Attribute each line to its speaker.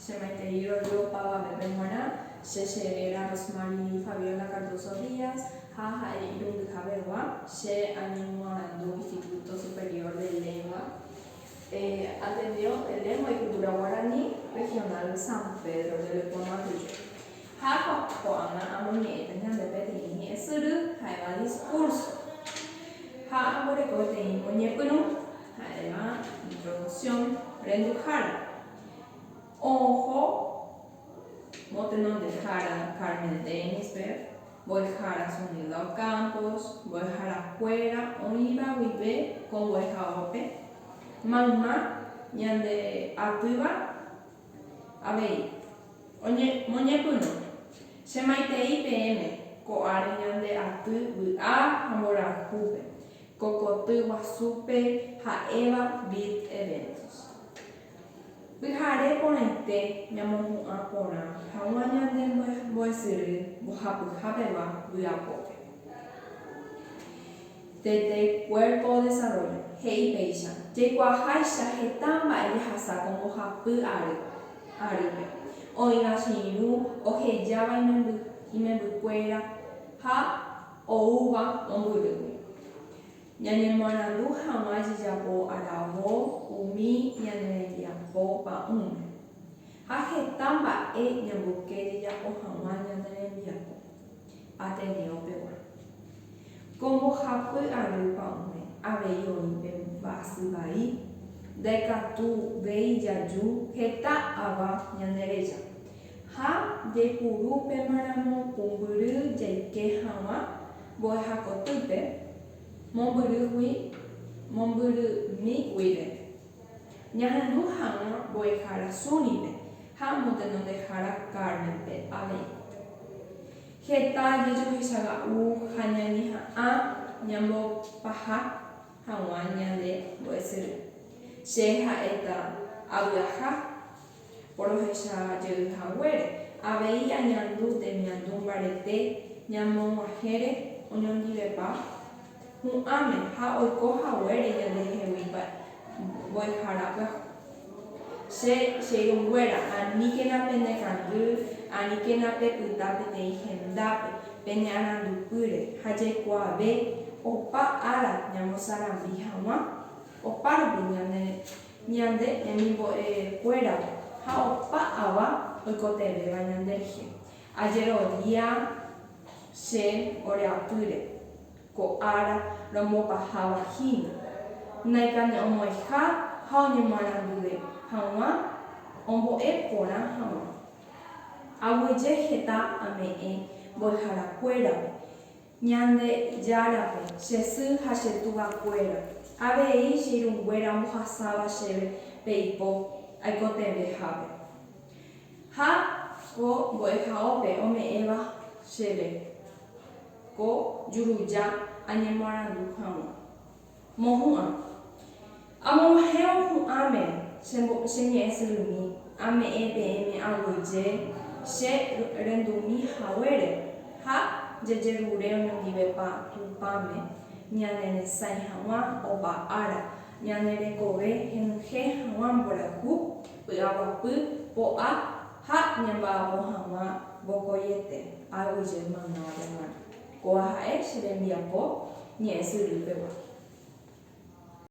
Speaker 1: Che maitei rorýo opavave pe g̃uarã, che che réra Rosmary Fabiola Cardoso Díaz ha ha'e irundyha pegua, che añemoarandu Instituto Superior de Lengua, e Ateneo de Lengua y Cultura Guarani Regional San Pedro de Leponaguillo, ha ko'ág̃a amoñe'ẽ pe ñande peteĩ ñe'ẽ syry, ha'éva discurso, ha amboreko peteĩ moñepyrũ. Ha'éva introducción renduhára. Oho motenondehára Carmel Denisberg, mbo'ehára Zunilda Ocampos, mbo'ehára kuéra oĩva guive ko mbo'ehaópe, mayma ñande atýva avei. Moñepyrũ che maitei peẽme ko ári ñande aty vy'a ha mborayhúpe. Ko koty guasúpe ha'éva Build Eventos. Pyhare porãite ñamohu'ã porã haguã ñande mbo'esyry mbohapyha pegua vy'apópe. Tete Cuerpo Desarrollo he'i péicha, jaikuaaháicha heta mba'e jahasa ko mbohapy ary arýpe, oĩva che irũ ohejáva imembykuéra ha Oúva mombyrymi. Ñañemoarandu hag̃ua jejapo aravo umi ñane rembiapo pa'ũme. Ha heta mba'e ñamboyke jejapo hag̃ua ñane rembiapo. Ateneo pegua. Ko mbohapy ary pa'ũme avei oĩ pe mba'asy vai, ndaikatu véi jaju heta ava ñane reja. Ha jaipuru upéma ramo pumbyry jaike haguã mbo'eha kotýpe, mombyrýgui, mombyrými guive. Ñahendu haguã mbo'ehára Súnipe ha motenondehára Cármenpe avei. Heta jajohechaga'u ha ñañeha'ã ñambopaha haguã ñande mbo'esyry. Che ha'éta avy'aha. Porohecha jey haguére, avei añandu temiandu mbarete ñamoguahẽre oñondivepa hu'ãme ha oiko haguére ñandehegui mbo'ehára pyahu. Che cheirũnguéra, aníkena penekangy, aníkena pepyta peteĩ hendápe, penearandupýre ha jaikuaave opa ára ñamosarambi hag̃ua. Opárupi ñane. Ñande ñanimbo'e kuéra ha opa ava oikotevẽva ñande rehe. Ajerodia che ore apýre, ko ára romopaháva hína, naikane'õmo'ẽha ha oñemoarandue haguã ombo'e porã haguã. Aguyje heta ame'ẽ mbo'ehara kuérape, Ñandejárape, che sy ha che tuvakuéra, avei che irũnguéra omohasáva chéve pe ipo aikotevẽhápe. Ha ko mbo'ehaópe ome'ẽva chéve ko juruja añemoarandu hag̃ua. Mohu'ã. Amoguahẽvo hu'ãme che mbo, che ñe'ẽ syrymi, ame'ẽ peẽme aguyje che rendumi haguére, ha jajerure oñondivepa Tupãme ñaneresãi haguã opa ára, ñane rekove henyhẽ haguã mborayhu, py'aguapy, po'a, ha ñamba'apo haguã vokoiete, aguyje maymáva peguã. Kóva ha'e che rembiapo ñe'ẽ sy rýpegua.